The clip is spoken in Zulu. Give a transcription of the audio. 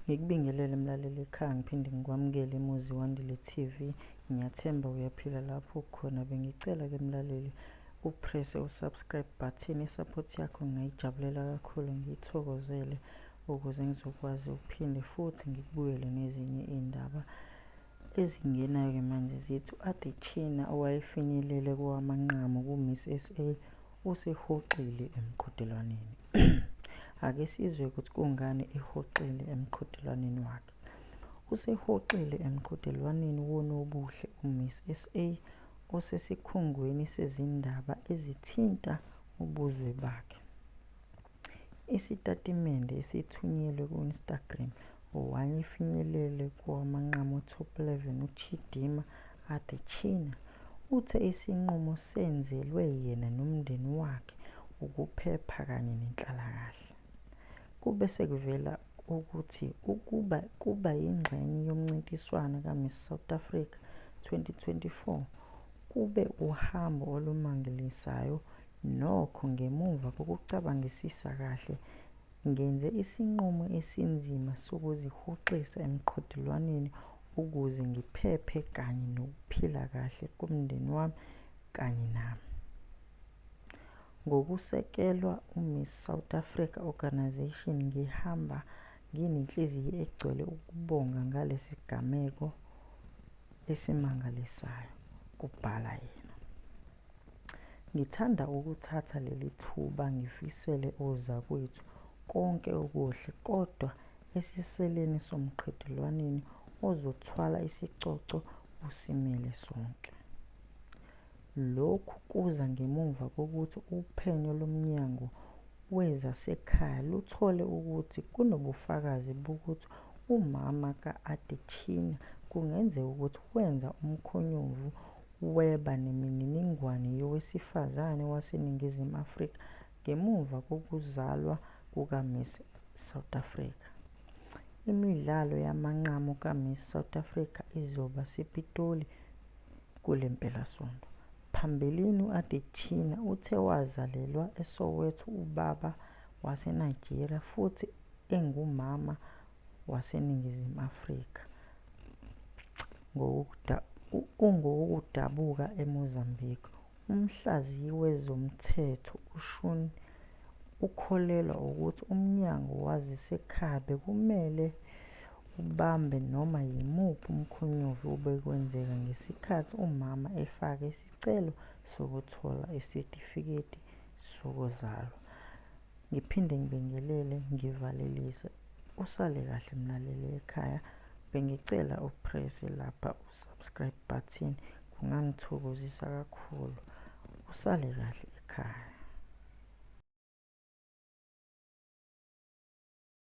Ngikubingelele mlaleli ekhaya ngiphinde ngikwamukele emuzi wandile TV. Ngiyathemba uyaphila lapho ukhona. Bengicela ke mlaleli upresse usubscribe button isupport yakho ngingayijabulela kakhulu ngiyithokozele ukuze ngizokwazi ukuphinde futhi ngikubuyele nezinye iy'ndaba ezingenayo-ke manje zithi u-adechina owayefinyelele kowamanqamu ku-miss sa Usihoxile emqhudelwaneni. Ake sizwe ukuthi kungani ehoxile emqhudelwaneni wakhe. Usehoxile emqhudelwaneni wonobuhle uMiss SA osesikhungweni sezindaba ezithinta ubuzwe bakhe. Isitatimende esithunyelwe ku-Instagram One ifinyelele kowamanqamu top 11 uChidimma Adetshina uthe isinqumo senzelwe yena nomndeni wakhe ukuphepha kanye nenhlalakahle. Kube sekuvela ukuthi ukuba kuba yingxenye yomncintiswano kaMiss South Africa 2024 kube uhambo olumangalisayo Nokho, ngemuva kokucabangisisa kahle, ngenze isinqumo esinzima sokuzihoxisa emqhudelwaneni ukuze ngiphephe kanye nokuphila kahle komndeni wami kanye nami. Ngokusekelwa uMiss South Africa Organisation, ngihamba nginenhliziyo egcwele ukubonga ngalesi sigameko esimangalisayo, kubhala yena. Ngithanda ukuthatha leli thuba ngifisele ozakwethu konke okuhle kodwa esiseleni somqhudelwaneni ozothwala isicoco usimele sonke. Lokhu kuza ngemuva kokuthi uphenyo loMnyango wezaseKhaya luthole ukuthi kunobufakazi bokuthi umama ka-Adetshina kungenzeka ukuthi wenza umkhonyovu weba nemininingwane yowesifazane waseNingizimu Afrika ngemuva kokuzalwa kukaMiss South Africa. Imidlalo yamanqamu kaMiss South Africa izoba sePitoli kule mpelasonto. Phambilini u-Adetshina uthe wazalelwa eSoweto ubaba waseNigeria futhi engumama waseNingizimu Afrika ungowokudabuka eMozambique, umhlaziyi wezomthetho uShun ukholelwa ukuthi umnyango waseKhabe kumele ubambe noma yimuphi umkhonyovu obekwenzeka ngesikhathi umama efaka isicelo sokuthola isitifiketi sokuzalwa. Ngiphinde ngibingelele ngivalelise. Usale kahle mlaleli ekhaya. Bengicela upresse lapha usubscribe button kungangithokozisa kakhulu. Usale kahle ekhaya.